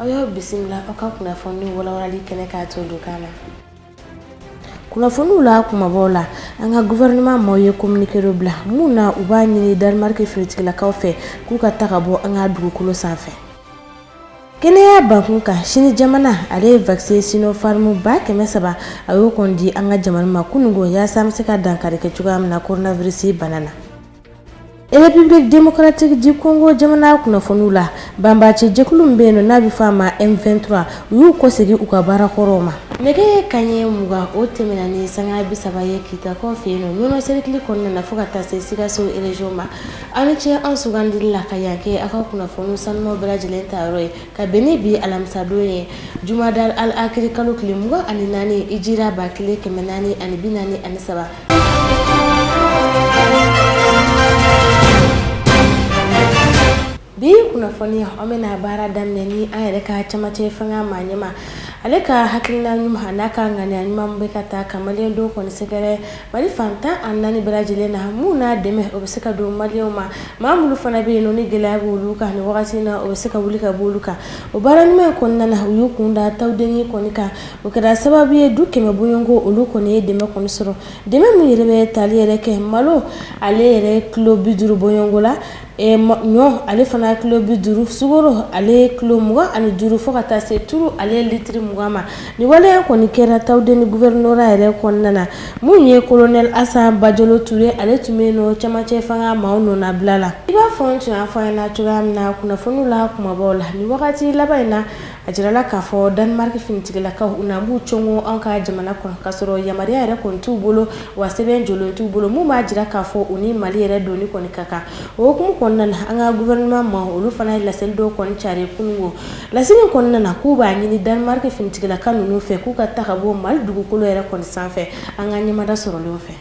aw y'aw bisimila aw ka kunnafoni walawalali kɛnɛ k'a to don kan na kunnafoniw la kumabaw la an ka gouvernement maaw ye communiqué dɔ bila min na u b'a ɲini danemark finitigilakaw fɛ k'u ka taga bɔ an ka dugukolo sanfɛ kɛnɛya bakun kan sini jamana ale ye vaccin sinopharm ba kɛmɛ saba a y'o kɔni di an ka jamana ma kunungo yaasa an bɛ se ka dankari kɛ cogoya min na coronavirus bana na république démocratique du congo jamana kunnafoniw la banbaaci jɛkulu min bɛ yen nɔ n'a bɛ fɔ a ma m23 u y'u kɔsegin u ka baara kɔrɔw ma nɛgɛ ye kanɲɛ mugan o tɛmɛna ni sanga bi saba ye kitakaw fɛ yen nɔ ɲɔnɔ serikili kɔnɔna na fo ka taa se sikaso region ma aw ni ce an sugandili la ka yan kɛ aw ka kunnafoniw sanumaw bɛɛ lajɛlen ta yɔrɔ ye Ka bɛn ni bi alamisadon ye jumada al akiiri kalo tile mugan ani naani hijira ba kelen kɛmɛ naani ani bi naani ani saba bi kunnafoni an bɛ na baara daminɛ ni an yɛrɛ ka camancɛ fanga maa ɲɛma ale ka hakilina ɲuman n'a ka ŋaniya ɲuman bɛ ka taa ka maliyɛn dɔw kɔni sɛgɛrɛ Mali fan tan ani naani bɛɛ lajɛlen na min na dɛmɛ o bɛ se ka don maliyɛnw ma maa minnu fana bɛ yen nɔ ni gɛlɛya bɛ olu kan nin wagati na o bɛ se ka wuli ka bɔ olu kan o baara ɲuman kɔnɔna na u y'u kun da tawudeni kɔni kan o kɛra sababu ye du kɛmɛ bɔɲɔgɔnko olu kɔni ye dɛmɛ kɔni sɔrɔ dɛmɛ min yɛrɛ bɛ tali yɛrɛ kɛ malo ale yɛrɛ kilo bi duuru bɔɲɔgɔnko la Ɛ ɲɔ ale fana kilo bi duuru sukaro ale kilo mugan ani duuru fo ka taa se turu ale litiri mugan ma nin wale kɔni kɛra tawudeni gouvernorat yɛrɛ kɔnɔna na min ye kolonɛli asa bajalo ture ale tun bɛ nɔ camancɛ fanga maaw nɔnabila la i b'a fɔ n tun y'a fɔ aw ɲɛ na cogoya min na kunnafoniw la kumabaw la nin wagati laban in na A jirala k'a fɔ danemark finitigilakaw u na b'u cɔngɔn anw ka jamana kɔnɔ k'a sɔrɔ yamaruya yɛrɛ kɔni t'u bolo wa sɛbɛn jɔlen t'u bolo min b'a jira k'a fɔ u ni Mali yɛrɛ donni kɔni ka kan o hokumu kɔnɔna na an ka gouvernement maaw olu fana ye laseli dɔw kɔni carin kununko laseli in kɔnɔna na k'u b'a ɲini danemark finitigilaka ninnu fɛ k'u ka taa ka bɔ Mali dugukolo yɛrɛ kɔni sanfɛ an ka ɲɛmada sɔrɔlen fɛ.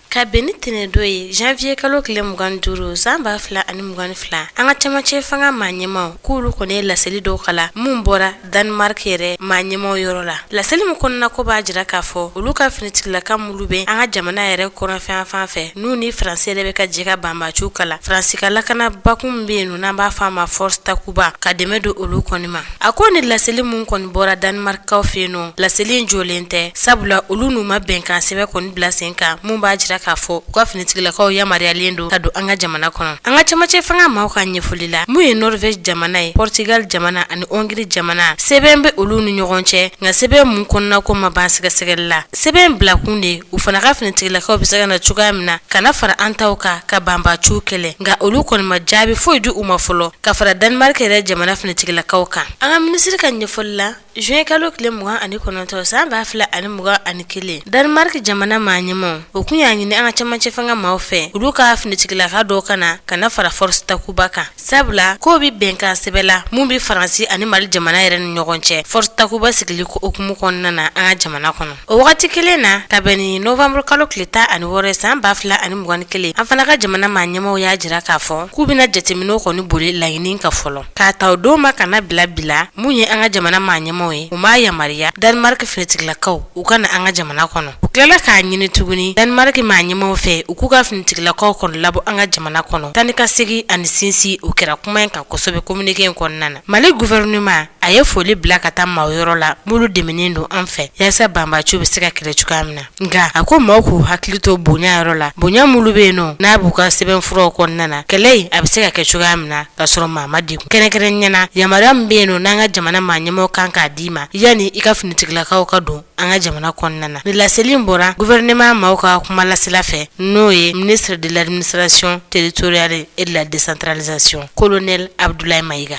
Ka bɛn ni tɛnɛndon ye janviye kalo tile mugan ni duuru san ba fila ani mugan ni fila an ka cɛmancɛ fanga maa ɲɛmaw k'olu kɔni ye laseli dɔw kalan minnu bɔra danemark yɛrɛ maa ɲɛma yɔrɔ la laseli min kɔnɔna k'o b'a jira k'a fɔ olu ka finitigilaka minnu bɛ an ka jamana yɛrɛ kɔnɔ fɛ yan fan fɛ n'u ni faransi yɛrɛ bɛ ka jɛ ka banbaciw kɛlɛ faransi ka lakana bakun min bɛ yen nɔ n'an b'a fɔ a ma force takuba ka dɛmɛ don olu kɔni ma A ko ni laseli minnu kɔni bɔra danimarikaw fɛ yen nɔ laseli in jɔlen tɛ sabula olu n'u ma bɛnkan sɛbɛn kɔni bila sen kan minnu b'a jira k'a fɔ u ka finitigilakaw yamaruyalen don ka don an ka jamana kɔnɔ an ka camancɛ fanga maaw ka ɲɛfɔli la minnu ye norvège jamana ye porotigali jamana ani hongrie jamana sɛbɛn bɛ olu ni ɲɔgɔn cɛ nka sɛbɛn minnu kɔnɔnako ma ban sɛgɛsɛgɛli la sɛbɛn bilakun de u fana ka finitigilakaw bɛ se ka na cogoya min na ka na fara an taw kan ka banbaciw kɛlɛ nka olu kɔni ma jaabi foyi di u ma fɔlɔ ka fara danimariki yɛrɛ jamana finitigilakaw kan an ka minisiri ka ɲɛfɔli la zuwɛn kalo tile mugan ani kɔnɔntɔn san ba fila ani mugan ani kelen danimariki jamana maa ɲɛmaw o tun y'a ɲini an ka camancɛ fanga maaw fɛ olu ka finitigilaka dɔ ka na ka na fara force Takuba kan sabula k'o bɛ bɛnkan sɛbɛn la minnu bɛ faransi ani mali jamana yɛrɛ ni ɲɔgɔn cɛ force Takuba sigili ko hukumu kɔnɔna na an ka jamana kɔnɔ O wagati kelen na ka bɛn ni novanburukalo tile tan ani wɔɔrɔ san ba fila ani mugan ni kelen an fana ka jamana maa ɲɛmaw y'a jira k'a fɔ k'u bɛna jateminɛ kɔni boli laɲini kan fɔlɔ k'a ta o don ma ka na bila bi la min ye an ka jamana maa ɲɛmaw ye u ma yamaruya danimariki finitigilakaw u ka na an ka jamana kɔnɔ u tilala k'a ɲini tuguni danimariki maa ɲɛmaw fɛ u k'u ka finitigilakaw kɔnɔ labɔ an ka jamana kɔnɔ taanikasegin ani sinsin u kɛra kuma in kan kosɛbɛ kominike in kɔnɔna na Mali gouvernement a ye foli bila ka taa maaw yɔrɔ la minnu dɛmɛnen don an fɛ yasa banbaaciw bɛ se ka kɛlɛ cogoya min na nka a ko maaw k'u hakili to bonya yɔrɔ la bonya minnu bɛ yen nɔ n'a b'u ka sɛbɛnfuraw kɔnɔna na kɛlɛ in a bɛ se ka kɛ cogoya min na ka sɔrɔ maa ma degun kɛrɛnkɛrɛnnenya la yamaruya min bɛ yen nɔ n'an ka jamana maaɲɛmaw kan k'a d'i ma yanni i ka finitigilakaw ka don an ka jamana kɔnɔna na nin laseli bɔra gouvernement maaw ka kuma lasela fɛ n'o ye ministre de l'administration territoriale et de la décentralisation colonel Abdoulaye Maïga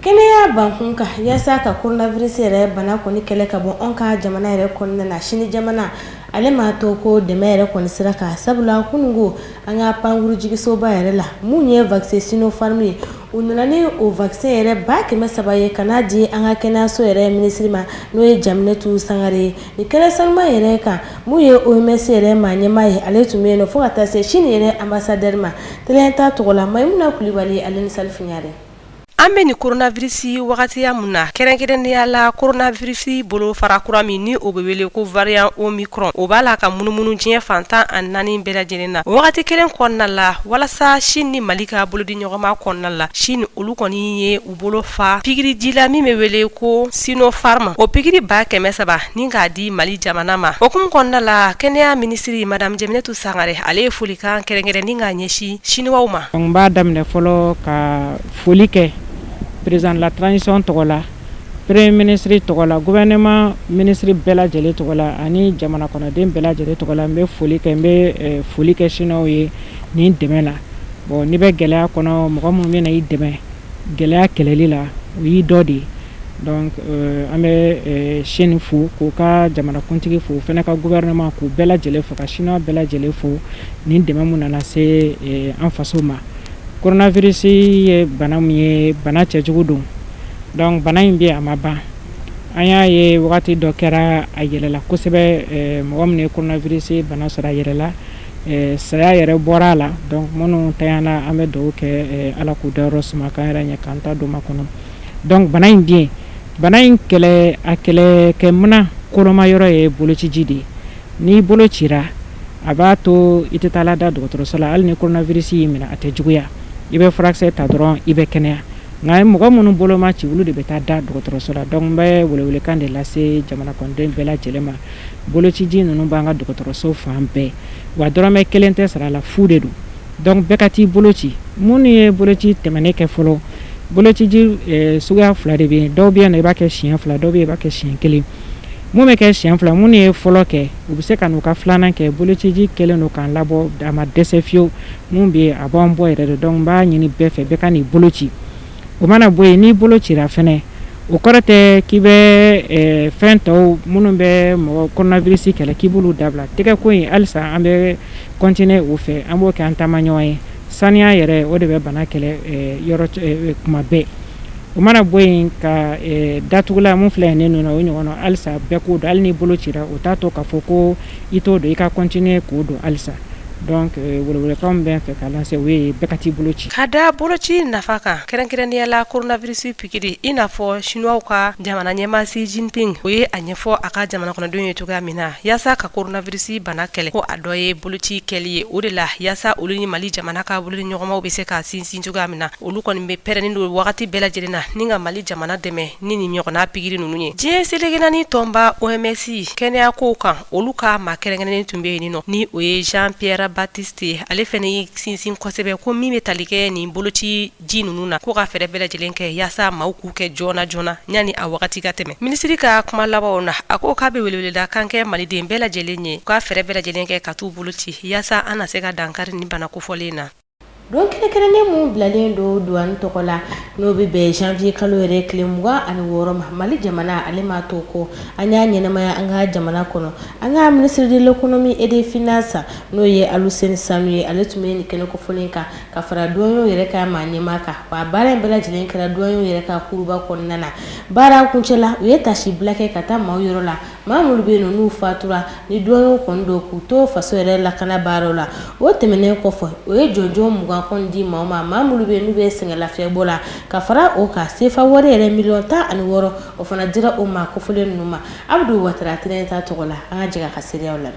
kɛnɛya bankun kan yasa ka coronavirus yɛrɛ bana kɔni kɛlɛ ka bɔ an ka jamana yɛrɛ kɔnɔna na sini jamana ale ma to kɔ dɛmɛ yɛrɛ kɔni sira kan sabula kunun ko an ka pankurunjiginsoba yɛrɛ la min ye vaccin Sinopharm ye u nana ni o vaccin yɛrɛ ba kɛmɛ saba ye ka n'a di an ka kɛnɛyaso yɛrɛ minisiri ma n'o ye Jeminatu Sangare ye nin kɛnɛ sanuma yɛrɛ kan min ye OMS yɛrɛ maa ɲɛmaa ye ale tun bɛ yen nɔ fo ka taa se sini yɛrɛ ambassadeur ma tele ta tɔgɔ la Mayimuna Kulibali ale ni Salifu Ɲare an bɛ nin koronavirisi wagatiya min na kɛrɛnkɛrɛnnenya la koronavirisi bolo fara kura min ni o bɛ wele ko variant omicron o b'a la ka munumunu diɲɛ fan tan ani naani bɛɛ lajɛlen na wagati kelen kɔnɔna la walasa sini ni mali ka bolodi ɲɔgɔnma kɔnɔna la sini olu kɔni ye u bolo fa pikiriji la min bɛ wele ko Sinopharm o pikiri ba kɛmɛ saba ni k'a di mali jamana ma o hukumu kɔnɔna la kɛnɛya minisiri madamu Jeminatu Sangare ale ye folikan kɛrɛnkɛrɛnnen k'a ɲɛsin siniwaw ma n b'a daminɛ fɔlɔ ka foli kɛ président de la transition tɔgɔ la premier minisiri tɔgɔ la gouvernement minisiri bɛɛ lajɛlen tɔgɔ la ani jamana kɔnɔden bɛɛ lajɛlen tɔgɔ la n bɛ foli kɛ n bɛ foli kɛ siniwaw ye nin dɛmɛ la Bon n'i bɛ gɛlɛya kɔnɔ mɔgɔ minnu bɛ na i dɛmɛ gɛlɛya kɛlɛli la o y'i dɔ de ye donc an bɛ Chine fo k'u ka jamanakuntigi fo o fana ka gouvernement k'u bɛɛ lajɛlen fo ka Chinois bɛɛ lajɛlen fo nin dɛmɛ min nana se an faso ma coronavirus ye bana min ye bana cɛjugu don donc bana in bɛ yen a ma ban an y'a ye wagati dɔ kɛra a yɛlɛla kosɛbɛ mɔgɔ min ye coronavirus bana sɔrɔ a yɛlɛla saya yɛrɛ bɔra a la donc minnu taara an bɛ dugawu kɛ ala k'u dayɔrɔ suma k'an yɛrɛ ɲɛ k'an ta don makɔnɔ donc bana in gɛn bana in kɛlɛ a kɛlɛkɛminɛn koloma yɔrɔ ye bolociji de ye n'i bolo cira a b'a to i tɛ taa lada dɔgɔtɔrɔso la hali ni koronavirisi y'i minɛ a tɛ juguya i bɛ furakisɛ ta dɔrɔn i bɛ kɛnɛya nka mɔgɔ minnu bolo ma ci olu de bɛ taa da dɔgɔtɔrɔso la donc n bɛ welewelekan de lase jamana kɔnɔden bɛɛ lajɛlen ma Bolociji ninnu b'an ka dɔgɔtɔrɔso fan bɛɛ wa dɔrɔmɛ kelen tɛ sara a la fu de don donc bɛɛ ka t'i bolo ci minnu ye boloci tɛmɛnen kɛ fɔlɔ boloci suguya fila de bɛ yen dɔw bɛ yen i b'a kɛ siɲɛ fila dɔw bɛ' kɛ siɲɛ kelen minnu bɛ kɛ siɲɛ fila minnu ye fɔlɔ kɛ u bɛ se ka n'u ka filanan kɛ bolociji kɛlen don k'an labɔ a ma dɛsɛ fiyewu minnu bɛ yen a b'an bɔ yɛrɛ donc n b'a ɲini bɛɛ fɛ bɛɛ ka n'i bolo ci o mana bɔ yen n'i bolo cira fana o kɔrɔ tɛ k'i bɛ fɛn tɔw minnu bɛ mɔgɔ koronavirisi kɛlɛ k'i b'olu dabila tɛgɛko in halisa an bɛ kɔntinin o fɛ an b'o kɛ an taamaɲɔgɔn ye saniya yɛrɛ o de bɛ bana kɛlɛ kuma bɛɛ o mana bɔ yen ka datugulan min filɛ ne nun na o ɲɔgɔnna halisa bɛɛ k'o don hali n'i bolo cira o t'a to k'a fɔ ko i t'o don i ka kɔntinin k'o don halisa Donc welewelekan bɛ n fɛ ka lase o ye bɛɛ ka t'i bolo ci ka da boloci nafa kan kɛrɛnkɛrɛnnenya la koronavirisi pikiri i n'a fɔ sinuwaw ka jamana ɲɛmaa Xi Jinping o ye a ɲɛfɔ a ka jamana kɔnɔdenw ye cogoya min na yaasa ka koronavirisi bana kɛlɛ ko a dɔ ye boloci kɛli ye o de la yaasa olu ni mali jamana ka bolodiɲɔgɔnmaw bɛ se ka sinsin cogoya min na olu kɔni bɛ pɛrɛnnen don wagati bɛɛ lajɛlen na ni ka mali jamana dɛmɛ ni nin ɲɔgɔnna pikiri ninnu ye diɲɛ seleke naani tɔnba OMS kɛnɛya kow kan olu ka maa kɛrɛnkɛrɛnnen tun bɛ yen nɔ ni o ye Jean Pierre Baptiste ye ale fana y'i sinsin kosɛbɛ ko min bɛ tali kɛ nin bolociji ninnu na ko ka fɛɛrɛ bɛɛ lajɛlen kɛ yaasa maaw k'u kɛ joona joona yanni a wagati ka tɛmɛ minisiri ka kuma labanw na a ko k'a bɛ weleweleda kan kɛ maliden bɛɛ lajɛlen ye u ka fɛɛrɛ bɛɛ lajɛlen kɛ ka t'u bolo ci yaasa an na se ka dankari nin bana kofɔlen na Don kɛrɛnkɛrɛnnen min bilalen don douane tɔgɔ la n'o bɛ bɛn janvier kalo yɛrɛ tile mugan ani wɔɔrɔ ma mali jamana ale ma to kɔ an y'a ɲɛnamaya an ka jamana kɔnɔ an ka ministre de l'économie et des finances n'o ye Aluseni Sanu ye ale tun bɛ nin kɛnɛ kofɔlen kan ka fara douaniers yɛrɛ ka maa ɲɛmaa kan wa baara in bɛɛ lajɛlen kɛra douaniers yɛrɛ ka kuruba kɔnɔna na baara kuncɛ la u ye tasibila kɛ ka taa maaw yɔrɔ la Maa minnu bɛ yen n'u fatura ni douaniers kɔni don k'u to faso yɛrɛ lakana baaraw la o tɛmɛnen kɔfɛ o ye jɔnjɔn mugan kɔni di maaw ma maa minnu bɛ yen n'u bɛ sɛgɛnlafiɲɛbɔ la ka fara o kan sefa wari yɛrɛ miliyɔn tan ani wɔɔrɔ o fana dira o ma kofɔlen ninnu ma Abdou Watara t ta tɔgɔ la an ka jɛ ka seereyaw la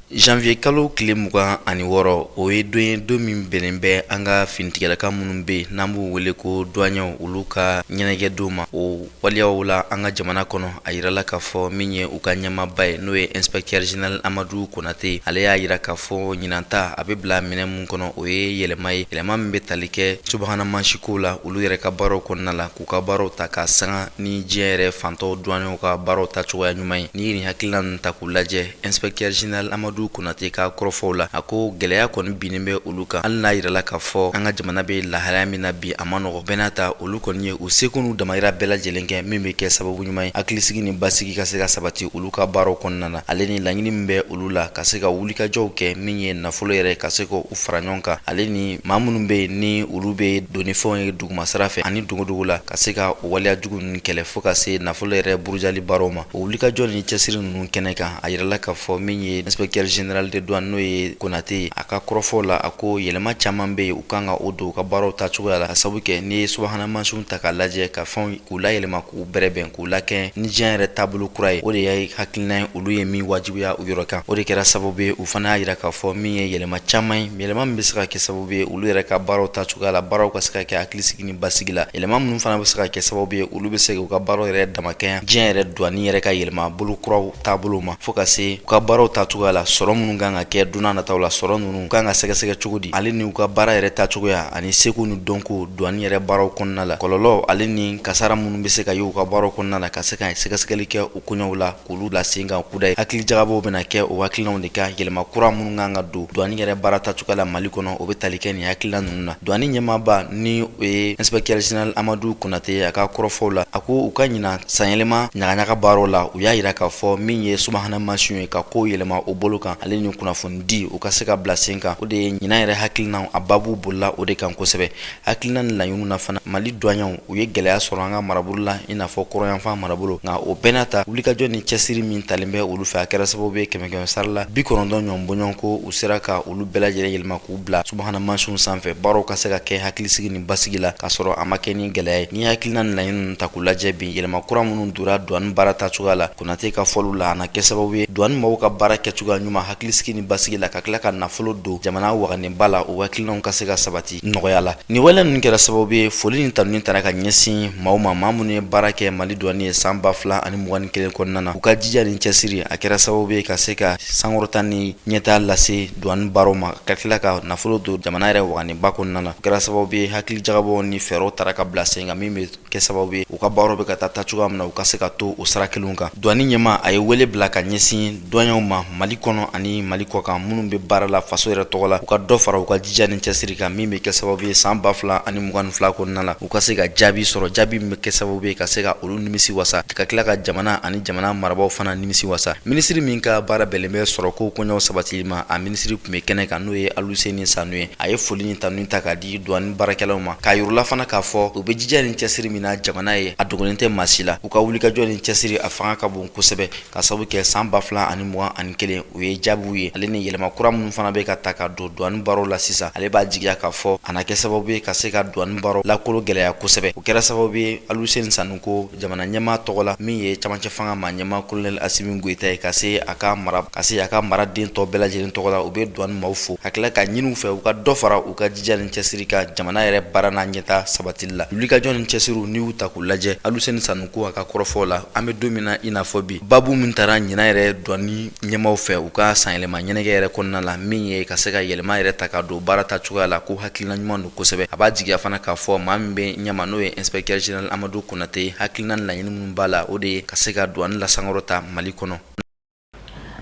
Janvier kalo tile mugan ani wɔɔrɔ o ye don ye don min bɛnnen bɛ an ka finitigilaka minnu bɛ yen n'an b'u wele ko douaniers olu ka ɲɛnajɛ don ma o waleyaw la an ka jamana kɔnɔ a jirala k'a fɔ min ye u ka ɲɛmaaba ye n'o ye inspecteur général amadu konate ale y'a jira k'a fɔ ɲinan ta a bɛ bila minɛn min kɔnɔ o ye yɛlɛma ye yɛlɛma min bɛ tali kɛ subahana mansinkow la olu yɛrɛ ka baaraw kɔnɔna la k'u ka baaraw ta ka sanga ni diɲɛ yɛrɛ fan tɔw douaniers ka baaraw ta cogoya ɲuman ye n'i ye nin hakilina ninnu ta k'u lajɛ Inspecteur general Amadu Konate ka kɔrɔfɔw la, a ko gɛlɛya kɔni binnen bɛ olu kan, hali n'a jirala k'a fɔ an ka jamana bɛ lahalaya min na bi, a ma nɔgɔ. Bɛɛ n'a ta, olu kɔni ye u seko n'u damayira bɛɛ lajɛlen kɛ, min bɛ kɛ sababu ɲuman ye hakilisigi ni basigi ka se ka sabati olu ka baaraw kɔnɔna na, ale ni laɲini min bɛ olu la ka se ka wulikajɔw kɛ, min ye nafolo yɛrɛ ka se ka u fara ɲɔgɔn kan, ale ni maa minnu bɛ yen ni olu bɛ don ni fɛnw ye dugumasira fɛ ani dogodogo la. ka se ka o waleya jugu ninnu kɛlɛ fo ka se nafolo yɛrɛ burujali baaraw ma o wulikajɔ ni cɛsiri ninnu kɛnɛ kan a yirala k'a fɔ min ye inspecteur general de douane n'o ye konate ye a ka kɔrɔfɔw la a ko yɛlɛma caman bɛ yen u kan ka o don u ka baaraw ta cogoya la ka sabu kɛ n'i ye subahana mansinw ta k'a lajɛ ka fɛnw k'u layɛlɛma k'u bɛrɛbɛn k'u lakɛɲɛ ni diɲɛ yɛrɛ taabolo kura ye o de ye hakilina ye olu ye min wajibiya u yɔrɔ kan o de kɛra sababu ye u fana y'a jira k'a fɔ min ye yɛlɛma caman ye yɛlɛma min bɛ se ka kɛ sababu ye olu yɛrɛ ka baaraw ta cogoya la baaraw ka se ka kɛ hakilisigi ni basigi la yɛlɛma minnu fana bɛ se ka kɛ sababu ye olu bɛ se k'u ka baaraw yɛrɛ damakɛya diɲɛ yɛrɛ duwani yɛrɛ ka yɛlɛma bolo kuraw taabolo ma fo ka se u ka baaraw tacogoya la sɔrɔ minnu kan ka kɛ don nataw la sɔrɔ ninnu kan ka sɛgɛsɛgɛ cogo di ale ni u ka baara yɛrɛ tacogoya ani seko ni dɔnko duwani yɛrɛ baaraw kɔnɔna la kɔlɔlɔ ale ni kasara minnu bɛ se ka ye u ka baaraw kɔnɔna la ka se ka sɛgɛsɛgɛli kɛ u koɲɛw la olu bila sen kan kuda ye hakili jagabɔw bɛna kɛ o hakilinaw de kan yɛlɛma kura minnu kan ka don duwani yɛrɛ baara tacogoya la mali kɔnɔ o bɛ tali kɛ nin hakilina ninnu na duwani ɲɛmaaba ni o ye inspecteur général amadu konate a ka kɔrɔfɔw la a ko u ka ɲinan sanyɛlɛma ɲagaɲaga baaraw la u y'a yira k'a fɔ min ye subahana mansinw ye ka kow yɛlɛma o bolo kan ale ni kunnafoni di u ka se ka bila sen kan o de ye ɲinan yɛrɛ hakilinaw a babu bolila o de kan kosɛbɛ hakilina ni laɲiniw na fana mali duwanɲɛw u ye gɛlɛya sɔrɔ an ka marabolo la i n'a fɔ kɔrɔyanfan marabolo nka o bɛɛ n'a ta wulikajɔ ni cɛsiri min talen bɛ olu fɛ a kɛra sababu ye kɛmɛkɛmɛ sara la bi kɔnɔntɔn ɲɔgɔn bɔɲɔgɔn ko u sera ka olu bɛɛ lajɛlen yɛlɛma k'u bila subahana mansinw sanfɛ baaraw ka se ka kɛ hakilisigi ni basigi la k'a sɔrɔ a ma kɛ ni gɛlɛya ye ni hakilina ni laɲini ninnu ta k'u lajɛ bi yɛlɛma kura minnu dora duwani baara ta cogoya la konate ka fɔliw la a na kɛ sababu ye duwani maaw ka baara kɛcogoya ɲuman hakilisigi ni basigi la ka tila ka nafolo don jamana waganenba la o hakilinaw ka se ka sabati nɔgɔya la nin wale ninnu kɛra sababu ye foli ni tanuni taara ka ɲɛsin maaw ma maa minnu ye baara kɛ mali duwani ye san ba fila ani mugan ni kelen kɔnɔna na u ka jija ni cɛsiri a kɛra sababu ye ka se ka sankɔrɔta ni ɲɛtaa lase duwani baara ma ka tila ka nafolo don jamana yɛrɛ waganenba kɔnɔna na o kɛra sababu ye hakili jagabɔ ni fɛɛrɛw taara ka bila sen kan min bɛ kɛ sababu ye u ka baaraw bɛ ka taa taa cogoya min na u ka se ka to o sira kelenw kan douane ɲɛmaa a ye wele bila ka ɲɛsin douaniers ma mali kɔnɔ ani mali kɔkan minnu bɛ baara la faso yɛrɛ tɔgɔ la u ka dɔ fara u ka jija ni cɛsiri kan min bɛ kɛ sababu ye san ba fila ani mugan ni fila kɔnɔna la u ka se ka jaabi sɔrɔ jaabi min bɛ kɛ sababu ye ka se ka olu nimisi wasa ka tila ka jamana ani jamana marabaaw fana nimisi wasa minisiri min ka baara bɛnlen bɛ sɔrɔko koɲɛw sabatili ma a minisiri tun bɛ kɛnɛ kan n'o ye aluseni sanu ye a ye foli ni tanuni ta k'a di di douane baarakɛlaw ma k'a yir'u la fana k'a fɔ u bɛ jija ni cɛsiri min na jamana ye a dogolen tɛ maa si la u ka wulikajɔ ni cɛsiri a fanga ka bon kosɛbɛ k'a sabu kɛ san ba fila ani mugan ani kelen u ye jaabiw ye ale ni yɛlɛma kura minnu fana bɛ ka ta ka don douane baaraw la sisan ale b'a jigiya k'a fɔ a na kɛ sababu ye ka se ka douane baaraw lakologɛlɛya kosɛbɛ o kɛra sababu ye aluseni sanu ko jamana ɲɛmaa tɔgɔ la min ye camancɛ fanga maa ɲɛmaa kolonɛli asimi goyita ye ka se a ka mara ka se a ka maraden tɔ bɛɛ lajɛlen tɔgɔ la u bɛ duwani maaw fo ka tila k'a ɲini u fɛ u ka dɔ fara u ka jija ni cɛsiri kan jamana yɛrɛ baara n'a ɲɛtaa sabatili la wulikajɔ ni cɛsiriw n'i y'u ta k'u lajɛ aluseni sanu ko a ka kɔrɔfɔw la an bɛ don min na i n'a fɔ bi babu min tara ɲinan yɛrɛ duwani ɲɛmaaw fɛ u ka sanyɛlɛma ɲɛnajɛ yɛrɛ kɔnɔna la min ye ka se ka yɛlɛma yɛrɛ ta ka don baara ta cogoya la ko hakilina ɲuman don kosɛbɛ a b'a jigiya fana k'a fɔ maa min bɛ ɲɛma n'o ye inspecteur général Amadu Konate hakilina ni laɲini minnu b'a la o de ye ka se ka douane lasankɔrɔta Mali kɔnɔ.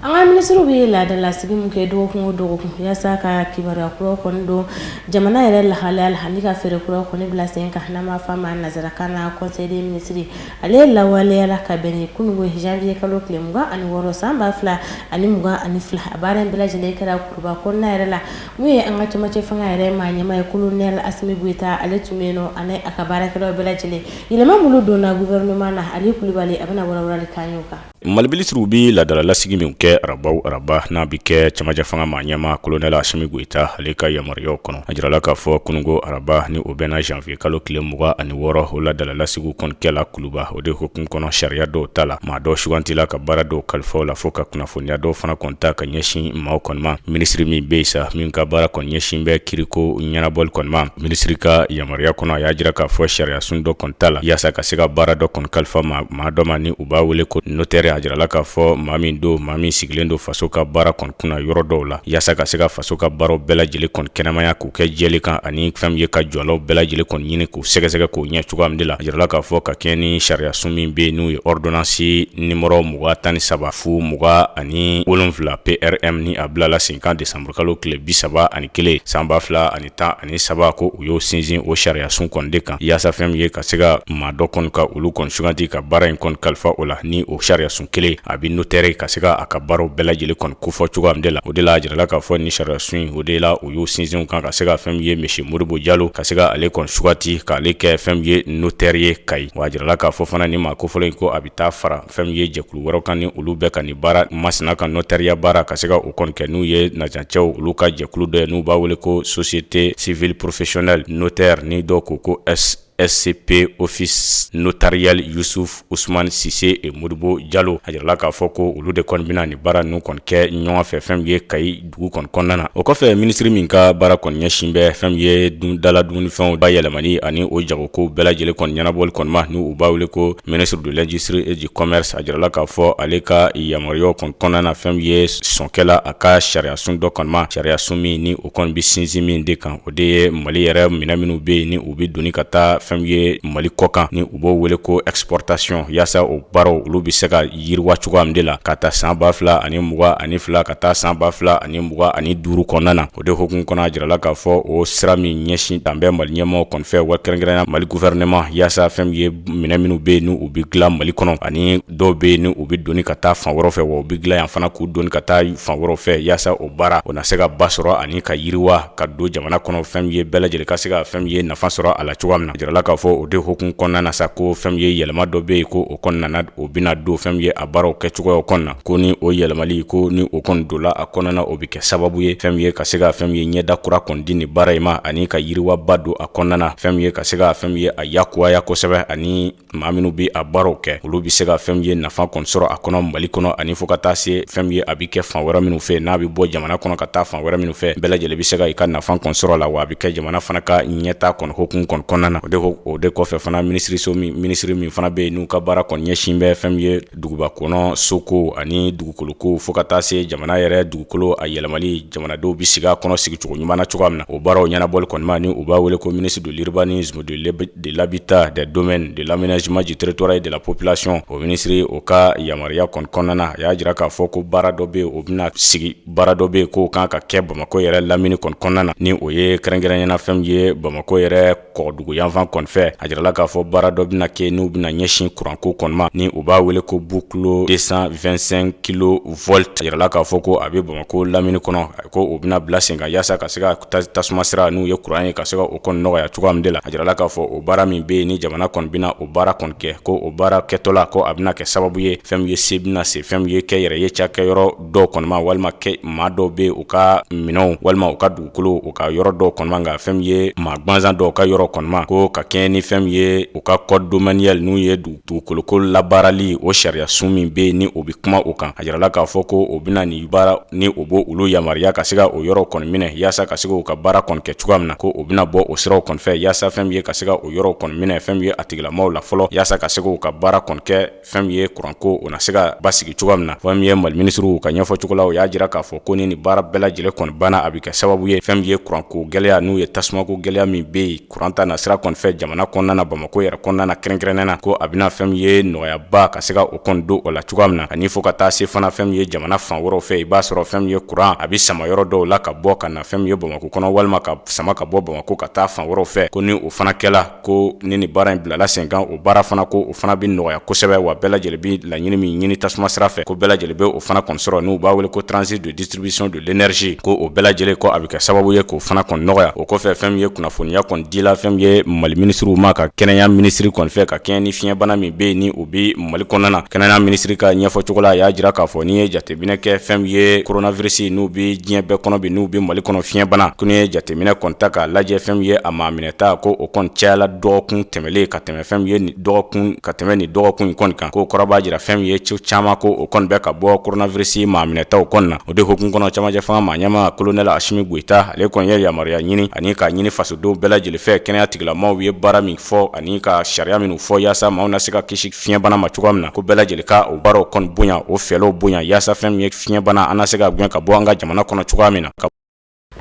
An ka minisiriw bɛ laadalasigi min kɛ dɔgɔkun o dɔgɔkun yaasa ka kibaruya kuraw kɔni don jamana yɛrɛ lahalaya la ani ka fɛɛrɛ kuraw kɔni bila sen kan n'an b'a fɔ a ma nanzarakan na conseil des ministres ale lawaleyala ka bɛn ni kunungo janvier kalo tile mugan ani wɔɔrɔ san ba fila ani mugan ani fila a baara in bɛɛ lajɛlen kɛra Kuluba kɔnɔna yɛrɛ la Min ye an ka camancɛ fanga yɛrɛ maa ɲɛmaa ye kolonɛli asimi goyita ale tun bɛ yen nɔ ani a ka baarakɛlaw bɛɛ lajɛlen yɛlɛma minnu donna gouvernement na ali kulubali a bɛna walawalali k'an y'o kan mali minisiriw bɛ laadala lasigi min kɛ araba o araba n'a bɛ kɛ camancɛ fanga maa ɲɛmaa kolonɛli asimi goyita ale ka yamaruyaw kɔnɔ a jirala k'a fɔ kununko araba ni o bɛnna janvier kalo tile mugan ani wɔɔrɔ o laadala lasigiw kɔni kɛla kuluba o de hukumu kɔnɔ sariya dɔw tala maa dɔw sugantila ka baara dɔw kalifa u la fo ka kunnafoniya dɔw fana kɔni ta ka ɲɛsin maaw kɔni ma minisiri min bɛ sa min ka baara kɔni ɲɛsin bɛ kiiriko ɲɛnabɔli kɔni ma minisiri ka yamaruya kɔnɔ a y'a jira k'a fɔ sariya sun dɔ kɔni tala yaasa ka se ka baara dɔ kɔni kalifa maa dɔ ma ni u b'a wele ko notɛri a jirala k'a fɔ maa min don maa min sigilen don faso ka baara kɔni kunna yɔrɔ dɔw la yaasa ka se ka faso ka baaraw bɛɛ lajɛlen kɔni kɛnɛmaya k'u kɛ jɛlen kan ani fɛn min ye ka jɔlaw bɛɛ lajɛlen kɔni ɲini k'u sɛgɛsɛgɛ k'o ɲɛ cogoya min de la a jirala k'a fɔ ka kɛɲɛ ni sariya sun min bɛ yen n'o ye ordonnance nimɔrɔ mugan tan ni saba fu mugan ani wolonwula PRM ni a bilala sen kan desanburu kalo tile bi saba ani kelen san ba fila ani tan ani saba ko u y'o sinsin o sariya sun kɔni de kan yaasa fɛn min ye ka se ka maa dɔ kɔni ka olu kɔni suganti ka baara in kɔni kalifa o la ni o sariya sun kelen a bɛ notɛri ka se ka a ka baaraw bɛɛ lajɛlen kɔni kofɔ cogoya min de la o de la a jirala k'a fɔ ni sariya sun in o de la u y'u sinsin kan ka se ka fɛn min ye monsieur modibo jalo ka se ka ale kɔni sugati k'ale kɛ fɛn min ye notaire ye kayi wa a jirala k'a fɔ fana ni maa kofɔlen in ko a bɛ taa fara fɛn min ye jɛkulu wɛrɛ kan ni olu bɛɛ ka nin baara masina ka notariya baara ka se ka o kɔni kɛ n'u ye najancɛw olu ka jɛkulu dɔ ye n'u b'a wele ko société civile professionnelle notaire ni dɔw ko ko s scp office notarial yusufu usmani sise et modibo jalo a jirala k'a fɔ ko olu de kɔni bɛna nin baara ninnu kɔni kɛ ɲɔgɔn fɛ fɛn min ye kayi dugu kɔni kɔnɔna na o kɔfɛ minisiri min ka baara kɔni ɲɛsin bɛ fɛn min ye dun dala dumunifɛnw bayɛlɛmani ani o jagokow bɛɛ lajɛlen kɔni ɲɛnabɔli kɔni ma ni u b'a wele ko ministre de l'industrie et du commerce a jirala k'a fɔ ale ka yamaruya kɔni kɔnɔna na fɛn min ye sɔn kɛla a ka sariyasun dɔ kɔni ma sariyasun min o kɔni bɛ sinsin min de kan o de ye mali yɛrɛ minɛ minnu bɛ yen ni u bɛ doni ka taa fɛn min ye mali kɔkan ni u b'o wele ko exportation yaasa o baaraw olu bɛ se ka yiriwa cogoya min de la ka taa san ba fila ani mugan ani fila ka taa san ba fila ani mugan ani duuru kɔnɔna na o de hukumu kɔnɔ a jirala k'a fɔ o sira min ɲɛsin dan bɛ mali ɲɛmɔgɔw kɔni fɛ wa kɛrɛnkɛrɛnya mali gouvernement yaasa fɛn min ye minɛ minnu bɛ yen ni u bɛ dilan mali kɔnɔ ani dɔw bɛ yen ni u bɛ doni ka taa fan wɛrɛw fɛ wa u bɛ dilan yan fana k'u doni ka taa fan wɛrɛw fɛ yaasa o baara o na se ka ba sɔrɔ ani ka yiriwa ka don jamana kɔnɔ fɛn min ye bɛɛ lajɛlen ka se ka fɛn min ye nafa sɔrɔ a la cogoya min na a jirala k'a fɔ o de hukumu kɔnɔna na sa ko fɛn min ye yɛlɛma dɔ bɛ yen ko o kɔnɔna o bɛna don fɛn min ye a baaraw kɛcogoyaw kɔnɔna na ko ni o yɛlɛmali ko ni o kɔni donna a kɔnɔna o bɛ kɛ sababu ye fɛn min ye ka se ka fɛn min ye ɲɛda kura kɔni di nin baara in ma ani ka yiriwaba don a kɔnɔna fɛn min ye ka se ka fɛn min ye a yakubaya kosɛbɛ ani maa minnu bɛ a baaraw kɛ olu bɛ se ka fɛn min ye nafa kɔni sɔrɔ a kɔnɔ mali kɔnɔ ani fo ka taa se fɛn min ye a bɛ kɛ fan wɛrɛ minnu fɛ n'a bɛ bɔ jamana kɔnɔ ka taa fan wɛrɛ minnu fɛ bɛɛ lajɛlen bɛ se ka i ka nafa kɔni sɔrɔ la wa a bɛ kɛ jamana fana ka ɲɛtaa kɔni hukumu kɔni kɔnɔna na o de kɔfɛ fana minisiriso min minisiri min fana bɛ yen n'u ka baara kɔni ɲɛsin bɛ fɛn min ye duguba kɔnɔ sokow ani dugukolokow fo ka taa se jamana yɛrɛ dugukolo a yɛlɛmali jamanadenw bɛ sigi a kɔnɔ sigicogo ɲuman na cogoya min na o baaraw ɲɛnabɔli kɔni ma ni u b'a wele ko ministre de l'urbanisme de l de l'habitat des domaines de l'aménagement du territoire et de la population o minisiri o ka yamaruya kɔni kɔnɔna na a y'a jira k'a fɔ ko baara dɔ bɛ o bɛna sigi baara dɔ bɛ k'o kan ka kɛ bamakɔ yɛrɛ lamini kɔni kɔnɔna na ni o ye kɛrɛnkɛrɛnya na fɛn min ye bamakɔ yɛrɛ kɔgɔdugu yanfan kɔni fɛ a jirala k'a fɔ baara dɔ bɛna kɛ n'u bɛna ɲɛsin kuranko kɔni ma ni u b'a wele ko boucle deux cent vingt-cinq kilovolts a jirala k'a fɔ ko a bɛ bamakɔ lamini kɔnɔ ko o bɛna bila sen kan yaasa ka se ka tasuma sira n'u ye kuran ye ka se ka o kɔni nɔgɔya cogoya min de la a jirala k'a fɔ o baara min bɛ yen ni jamana kɔni bɛna o baara kɔni kɛ ko o baara kɛtɔla ko a bɛna kɛ sababu ye fɛn min ye se bɛna se fɛn min ye kɛnyɛrɛye cakɛyɔrɔ dɔw kɔni ma walima kɛ maa dɔw bɛ u ka minɛnw walima u ka dugukolo u ka yɔrɔ dɔw kɔni ma nka fɛn min ye maa gansan dɔw ka yɔrɔ kɔni ma ko ka kɛɲɛ ni fɛn min ye u ka code domanial n'u ye dugu dugukoloko labaarali o sariya sun min bɛ yen ni o bɛ kuma o kan a jirala k'a fɔ ko o bɛna nin baara ni o b'o olu yamaruya ka se ka o yɔrɔ kɔni minɛ yaasa ka se k'u ka baara kɔni kɛ cogoya min na ko o bɛna bɔ o siraw kɔni fɛ yaasa fɛn min ye ka se ka o yɔrɔ kɔni minɛ fɛn min ye a tigilamaw la fɔlɔ yaasa ka se k'u ka baara kɔni kɛ fɛn min ye kuranko o na se ka basigi cogoya min na fɛn min ye mali minisiriw ka ɲɛfɔ cogo la o y'a jira k'a fɔ ko ni nin baara bɛɛ lajɛlen kɔni banna a bɛ kɛ sababu ye fɛn min ye kuranko gɛlɛya n'u ye tasumako gɛlɛya min bɛ yen kuran ta na sira kɔni fɛ jamana kɔnɔna na bamakɔ yɛrɛ kɔnɔna na kɛrɛnkɛrɛnnen na ko a bɛna fɛn min ye nɔgɔyaba ka se ka o kɔni don o la cogoya min na ani fo ka taa se fana fɛn min ye jamana fan wɛrɛw fɛ i b'a sɔrɔ fɛn min ye kuran a bɛ sama yɔrɔ dɔw la ka bɔ ka na fɛn min ye bamakɔ kɔnɔ walima ka sama ka bɔ bamakɔ ka taa fan wɛrɛw fɛ ko ni o fana kɛla ko ni nin baara in bilala sen kan o baara fana ko o fana bɛ nɔgɔya kosɛbɛ wa bɛɛ lajɛlen bɛ laɲini min ɲini tasuma sira fɛ ko bɛɛ lajɛlen bɛ o fana kɔni sɔrɔ n'u b'a wele ko transit de distribution de l'énergie ko o bɛɛ lajɛlen ko a bɛ kɛ sababu ye k'o fana kɔni nɔgɔya o kɔfɛ fɛn min ye kunnafoniya kɔni dila fɛn min ye mali minisiriw ma ka kɛnɛya minisiri kɔni fɛ ka kɛɲɛ ni fiɲɛbana min bɛ yen ni o bɛ mali kɔnɔna na kɛnɛya minisiri ka ɲɛfɔ cogo la a y'a jira k'a fɔ n'i ye jateminɛ kɛ fɛn min ye coronavirus n'u bɛ diɲɛ bɛɛ kɔnɔ bi n'u bɛ mali kɔnɔ fiɲɛbana ko n'i ye jateminɛ kɔni ta k'a lajɛ fɛn min ye a maa minɛta ko o kɔni cayala dɔgɔkun tɛmɛlen ka tɛmɛ fɛn min ye nin dɔgɔkun ka tɛmɛ nin dɔgɔkun in kɔni kan k'o kɔrɔ b'a jira fɛn min ye cɛw caman ko o kɔni bɛ ka bɔ coronavirus maa minɛtaw kɔni na o de hokumu kɔnɔ camancɛ fanga maa ɲɛmaa colonel Asimi Goita ale kɔni ye yamaruya ɲini ani k'a ɲini fasodenw bɛɛ lajɛlen fɛ kɛnɛya tigilamaw ye baara min fɔ ani ka sariya minnu fɔ yaasa maaw na se ka kisi fiɲɛbana ma cogoya min na ko bɛɛ lajɛlen ka o baaraw kɔni bonya o fɛlɛw bonya yaasa fɛn min ye fiɲɛbana an na se ka gɛn ka bɔ an ka jamana kɔnɔ cogoya min na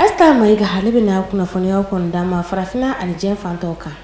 Asta Mayiga ale bɛna kunnafoniyaw kɔni d'an ma farafinna ani diɲɛ fan tɔw kan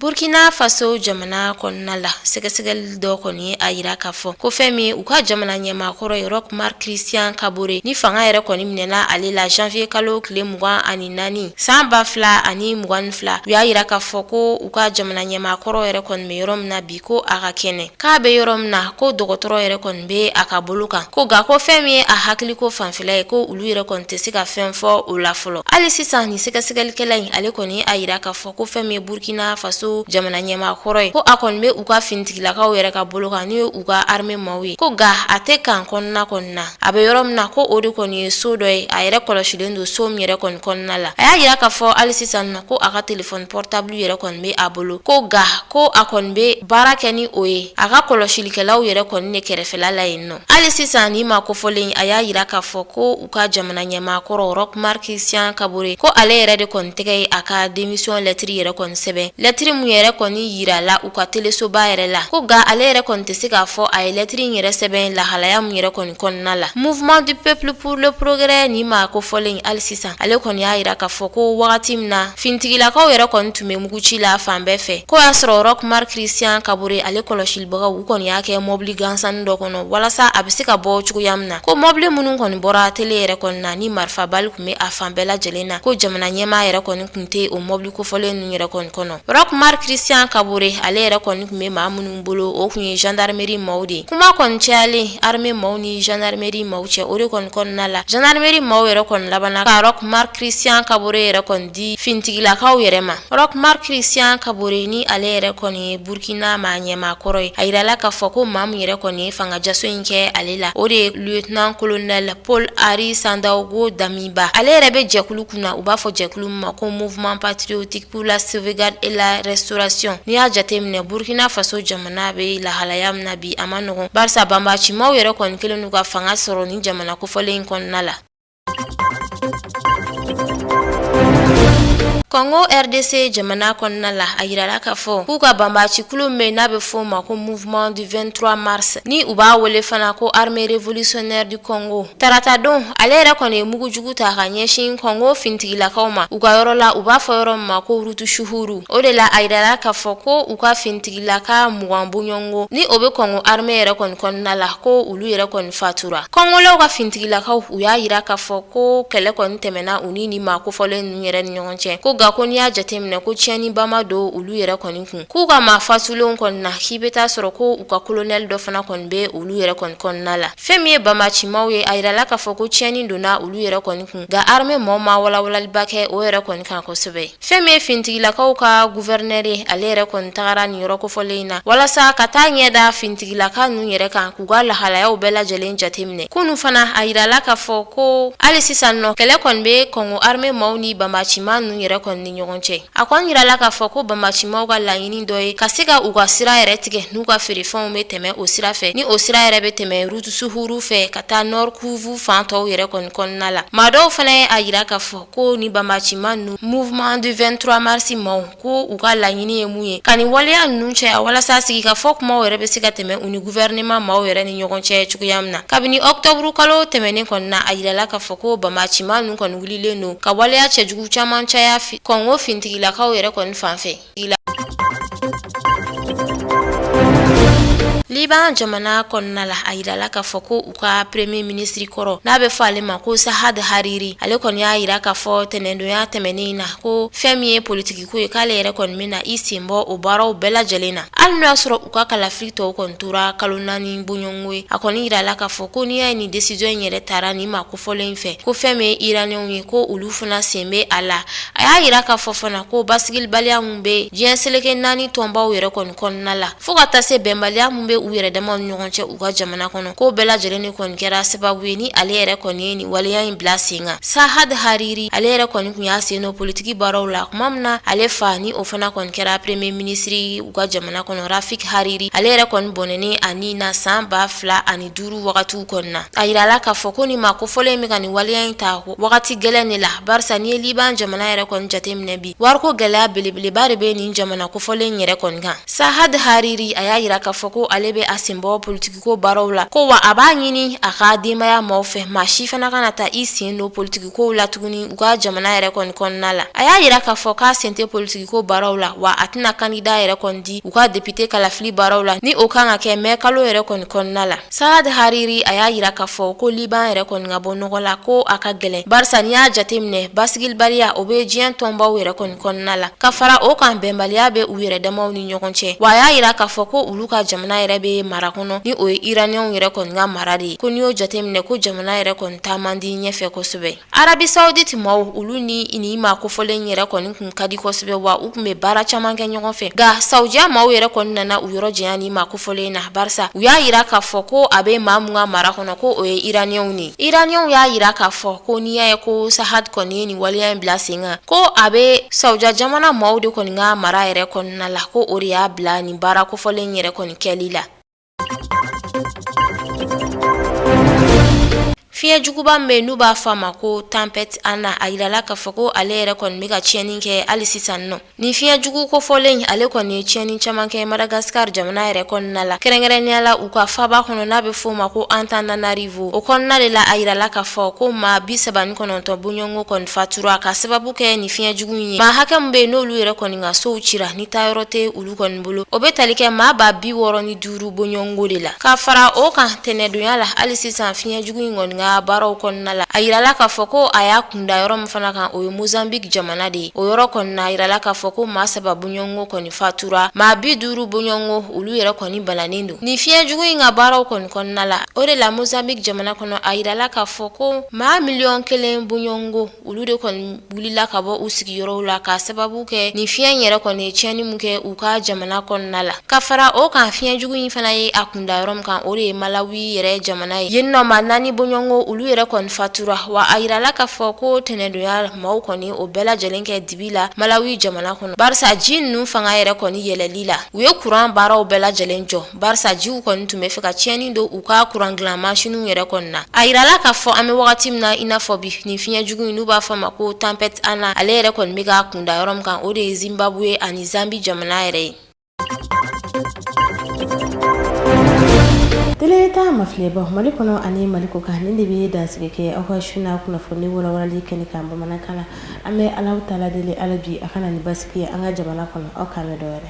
burkina faso jamana kɔnɔna la sɛgɛsɛgɛli dɔ kɔni y'a yira k'a fɔ ko fɛn min u ka jamana ɲɛmaakɔrɔ ye Roch Marc Christian Kabore ni fanga yɛrɛ kɔni minɛna ale la janvier kalo tile mugan ani naani san ba fila ani mugan ni fila u y'a yira k'a fɔ ko u ka jamana ɲɛmaakɔrɔ yɛrɛ kɔni bɛ yɔrɔ min na bi ko a ka kɛnɛ k'a bɛ yɔrɔ min na ko dɔgɔtɔrɔ yɛrɛ kɔni bɛ a ka bolo kan ko nka ko fɛn min ye a hakili ko fanfɛla ye ko olu yɛrɛ kɔni tɛ se ka fɛn fɔ o la fɔlɔ hali sisan nin sɛgɛsɛgɛlikɛla in ale kɔni y'a yira k'a fɔ ko fɛn min ye burkina faso jamana ɲɛmaakɔrɔ ye ko a kɔni bɛ u ka finitigilakaw yɛrɛ ka bolo kan n'u ye u ka arme maaw ye ko nka a tɛ kan kɔnɔna kɔni na a bɛ yɔrɔ min na ko o de kɔni ye so dɔ ye a yɛrɛ kɔlɔsilen don so min yɛrɛ kɔni kɔnɔna la a y'a yira k'a fɔ hali sisan na ko a ka telefɔni portable yɛrɛ kɔni bɛ a bolo ko nka ko a kɔni bɛ baara kɛ ni o ye a ka kɔlɔsilikɛlaw yɛrɛ kɔni ne kɛrɛfɛla la yen nɔ hali sisan nin maa kofɔlen in a y'a yira k'a fɔ ko u ka jamana ɲɛmaakɔrɔ Roch Marc Christian Kabore ko ale yɛrɛ de kɔni tɛgɛ ye a ka démission lɛtiri yɛrɛ kɔni sɛbɛn lɛtiri min yɛrɛ kɔni yirala u ka telesoba yɛrɛ la ko nka ale yɛrɛ kɔni tɛ se k'a fɔ a ye lɛtiri in yɛrɛ sɛbɛn lahalaya min yɛrɛ kɔni kɔnɔna la mouvement du peuple pour le progrès nin maa kofɔlen in hali sisan ale kɔni y'a yira k'a fɔ ko wagati min na Fintigilakaw yɛrɛ kɔni tun bɛ muguci la fan bɛɛ fɛ ko y'a sɔrɔ Roch Marc Christian Kabore ale kɔlɔsilibagaw u kɔni y'a kɛ mɔbili gansannin dɔ kɔnɔ walasa a bɛ se ka bɔ cogoya min na ko mɔbili minnu kɔni bɔra tele yɛrɛ kɔni na ni marifa bali tun bɛ a fan bɛɛ lajɛlen na ko jamana ɲɛmaa yɛrɛ kɔni tun tɛ o mɔbili kofɔlen ninnu yɛrɛ kɔni kɔnɔ Roch Marc Christian Kabore ale yɛrɛ kɔni tun bɛ maa minnu bolo o tun ye gendarmerie maaw de kuma kɔni cayalen armée maaw ni gendarmerie maaw cɛ o de kɔni kɔnɔna la gendarmerie maaw yɛrɛ kɔni labanna ka Roch Marc Christian Kabore yɛrɛ kɔni di fintigilakaw yɛrɛ ma Roch Marc Christian Kabore ni ale yɛrɛ kɔni ye Burkina maa ɲɛmaa kɔrɔ ye a yirala k'a fɔ ko maa min yɛrɛ kɔni ye fanga jaso in kɛ ale la o de ye lieutenant-colonel Paul Henri Sandaogo Dami ba ale yɛrɛ bɛ jɛkulu kunna u b'a fɔ jɛkulu min ma ko mouvement patriotique pour la sauvegarde et la restauration n'i y'a jateminɛ Burkina Faso jamana bɛ lahalaya min na bi a ma nɔgɔn barisa banbacimaw yɛrɛ kɔni kelen n'u ka fanga sɔrɔ nin jamana kofɔlen in kɔnɔna la Congo RDC jamana kɔnɔna la a yirala k'a fɔ k'u ka banbaci kulu min bɛ n'a bɛ fɔ o ma ko mouvement du 23 mars ni u b'a wele fana ko armée révolutionnaire du Congo Tarata don ale yɛrɛ kɔni ye mugujugu ta ka ɲɛsin kɔngo fintigilakaw ma u ka yɔrɔ la u b'a fɔ yɔrɔ min ma ko Rutshuru o de la a yirala k'a fɔ ko u ka fintigilaka mugan bonyɔngo ni o bɛ kɔngo armée yɛrɛ kɔni kɔnɔna la ko olu yɛrɛ kɔni fatura kɔngolaw ka fintigilakaw u y'a yira k'a fɔ ko kɛlɛ kɔni tɛmɛna u ni nin maa kofɔlen ninnu yɛrɛ ni ɲɔgɔn cɛ ko nka ko n'i y'a jateminɛ ko tiɲɛniba ma don olu yɛrɛ kɔni kun k'u ka maa fatulenw kɔni na k'i bɛ t'a sɔrɔ ko u ka kolonɛli dɔ fana kɔni bɛ olu yɛrɛ kɔni kɔnɔna la fɛn min ye banbacimaaw ye a yirala k'a fɔ ko tiɲɛni donna olu yɛrɛ kɔni kun nka armée maaw ma walawalaliba kɛ o yɛrɛ kɔni kan kosɛbɛ fɛn min ye finitigilakaw ka guvɛrinɛri ye ale yɛrɛ kɔni tagara nin yɔrɔ kofɔlen in na walasa ka taa ɲɛ da finitigilaka ninnu yɛrɛ kan k'u ka lahalayaw bɛɛ lajɛlen jateminɛ kunu fana a yirala k'a fɔ ko hali sisan nɔ kɛlɛ kɔni bɛ kɔngo armée maaw ni banbacimaa ninnu yɛrɛ kɔni ni ɲɔgɔn cɛ a kɔni yirala k'a fɔ ko banbacimaw ka laɲini dɔ ye ka se ka u ka sira yɛrɛ tigɛ n'u ka feerefɛnw bɛ tɛmɛ o sira fɛ ni o sira yɛrɛ bɛ tɛmɛ Rutshuru fɛ ka taa Nord Kivu fan tɔw yɛrɛ kɔni kɔnɔna la maa dɔw fana ye a yira k'a fɔ ko nin banbacima ninnu mouvement du 23 mars maaw ko u ka laɲini ye mun ye ka nin waleya ninnu caya walasa sigikafɔ kumaw yɛrɛ bɛ se ka tɛmɛ u ni gouvernement maaw yɛrɛ ni ɲɔgɔn cɛ cogoya min na kabini ɔktɔburu kalo tɛmɛnen kɔni na a yirala k'a fɔ ko banbacima ninnu kɔni wulilen don ka waleya cɛjugu caman caya kɔngo fintigilakaw yɛrɛ kɔni fan fɛ Liban jamana kɔnɔna la a yirala k'a fɔ ko u ka premier minisiri kɔrɔ n'a bɛ fɔ ale ma ko Saad Hariri ale kɔni y'a yira k'a fɔ tɛnɛndonya tɛmɛnen na ko fɛn min ye politikiko ye k'ale yɛrɛ kɔni bɛna i sen bɔ o baaraw bɛɛ lajɛlen na hali n'o y'a sɔrɔ u ka kalafili tɔw kɔni tora kalo naani bonyɔngo ye a kɔni yirala k'a fɔ ko n'i y'a ye nin desizɔn in yɛrɛ tara nin maa ko fɔlen in fɛ ko fɛn min ye iraniɛnw ye ko olu fana sen bɛ a la a y'a yira k'a fɔ fana ko basigilibaliya min bɛ diɲɛ seleke naani tɔnbaw yɛrɛ kɔni kɔnɔna la fo ka taa se bɛnbaliya min bɛ u yɛrɛ dama ni ɲɔgɔn cɛ u ka jamana kɔnɔ ko bɛɛ lajɛlen de kɔni kɛra sababu ye ni ale yɛrɛ kɔni ye nin waleya in bila sen kan sahad hariri ale yɛrɛ kɔni kun y'a sen don politiki baaraw la kuma min na ale fa ni o fana kɔni kɛra premier ministre u ka jamana kɔnɔ rafik hariri ale yɛrɛ kɔni bɔnɛnen a ni na san ba fila ani duuru wagatiw kɔnɔna a yirala k'a fɔ ko nin maa kofɔlen in bɛ ka nin waleya in ta wagati gɛlɛn de la barisa n'i ye liban jamana yɛrɛ kɔni jateminɛ bi wariko gɛlɛya belebeleba de bɛ nin jamana kofɔlen in yɛrɛ kɔni kan sahad hariri a y'a yira k'a fɔ ko ale bɛ a sen bɔ politikiko baaraw la ko wa a b'a ɲini a ka denbaya maaw fɛ maa si fana kana taa i sen don politiki kow la tuguni u ka jamana yɛrɛ kɔni kɔnɔna la a y'a yira k'a fɔ k'a sen tɛ politikiko baaraw la wa a tɛna kandida yɛrɛ kɔni di u ka depite kalafili baaraw la ni o kan ka kɛ mɛ kalo yɛrɛ kɔni kɔnɔna la saad hariri a y'a yira k'a fɔ ko liban yɛrɛ kɔni ka bɔ nɔgɔ la ko a ka gɛlɛn barisa n'i y'a jateminɛ basigilibaliya o bɛ diɲɛ tɔnbaw yɛrɛ kɔni kɔnɔna la ka fara o kan bɛnbaliya bɛ u yɛrɛ damaw ni ɲɔgɔn cɛ wa a y'a yira k'a fɔ ko olu ka jamana yɛrɛ bɛ mara kɔnɔ ni o ye iraniɛnw yɛrɛ kɔni ka mara de ye ko n'i y'o jateminɛ ko jamana yɛrɛ kɔni taa man di ɲɛfɛ kosɛbɛ arabi sauditi maaw olu ni nin maa kofɔlen yɛrɛ kɔni kun ka di kosɛbɛ wa u kun bɛ baara caman kɛ ɲɔgɔn fɛ nka saudiya maaw yɛrɛ kɔni nana u yɔrɔ janya nin maa kofɔlen na barisa u y'a yira k'a fɔ ko a bɛ maa mun ka mara kɔnɔ ko o ye iraniɛnw ni iraniɛnw y'a yira k'a fɔ ko n'i y'a ye ko sahad kɔni ye nin waleya in bila sen kan ko a bɛ saudiya jamana maaw de kɔni ka mara yɛrɛ kɔnɔna la ko o de y'a bila nin baara kofɔlen yɛrɛ kɔni kɛli la Fiɲɛ juguba min bɛ yen n'u b'a fɔ a ma ko tempête ana a yirala k'a fɔ ko ale yɛrɛ kɔni bɛ ka tiɲɛni kɛ hali sisan nɔ nin fiɲɛ jugu kofɔlen ale kɔni ye tiɲɛni caman kɛ madagascar jamana yɛrɛ kɔnɔna la kɛrɛnkɛrɛnnenya la u ka faba kɔnɔ n'a bɛ f'o ma ko antananarivo o kɔnɔna de la a yirala k'a fɔ ko maa bi saba ni kɔnɔntɔn bɔɲɔgɔnko kɔni fatura ka sababu kɛ nin fiɲɛ jugu ye maa hakɛ min bɛ yen n'olu yɛrɛ kɔni ka sow cira ni taa yɔrɔ tɛ olu lu kɔni bolo o bɛ tali kɛ maa ba bi wɔɔrɔ ni duuru bɔɲɔgɔnko de la ka fara o kan tɛnɛdonya la hali sisan fiɲɛ jugu in kɔni ka baaraw kɔnɔna la a yirala k'a fɔ ko a y'a kun da yɔrɔ min fana kan o ye mozambique jamana de ye o yɔrɔ kɔni na a yirala k'a fɔ ko maa saba bɔɲɔgɔnko kɔni fatura maa bi duuru bɔɲɔgɔnko olu yɛrɛ kɔni bananen don nin fiɲɛ jugu in ka baaraw kɔni kɔnɔna la o de la mozambique jamana kɔnɔ a yirala k'a fɔ ko maa miliyɔn kelen bɔɲɔgɔnko olu de kɔni wulila ka bɔ u sigiyɔrɔw la ka sababu kɛ nin fiɲɛ in yɛrɛ kɔni ye tiɲɛni min kɛ u ka jamana kɔnɔna la ka fara o kan fiɲɛ jugu in fana ye a kun da yɔrɔ min kan o de ye malawi yɛrɛ jamana ye yen nɔ maa naani bɔɲɔgɔnko olu yɛrɛ kɔni fatura wa a yirala k'a fɔ ko tɛnɛdonya maaw kɔni o bɛɛ lajɛlen kɛ dibi la malawi jamana kɔnɔ barisa ji ninnu fanga yɛrɛ kɔni yɛlɛli la u ye kuran baaraw bɛɛ lajɛlen jɔ barisa jiw kɔni tun bɛ fɛ ka tiɲɛni don u ka kuran dilan masiniw yɛrɛ kɔni na a yirala k'a fɔ an bɛ wagati min na i n'a fɔ bi nin fiɲɛ jugu in n'u b'a fɔ a ma ko tempête ana ale yɛrɛ kɔni bɛ k'a kunda yɔrɔ min kan o de ye zimbabwe ani zambi jamana yɛrɛ ye tele ɲɛta mafilɛbaw mali kɔnɔ ani mali kɔkan nin de bɛ dansigi kɛ aw ka su na kunnafoni walawalali kɛnɛ kan bamanankan na an bɛ alahu taala deli ala bi a ka na ni basigi ye an ka jamana kɔnɔ aw k'an bɛn don wɛrɛ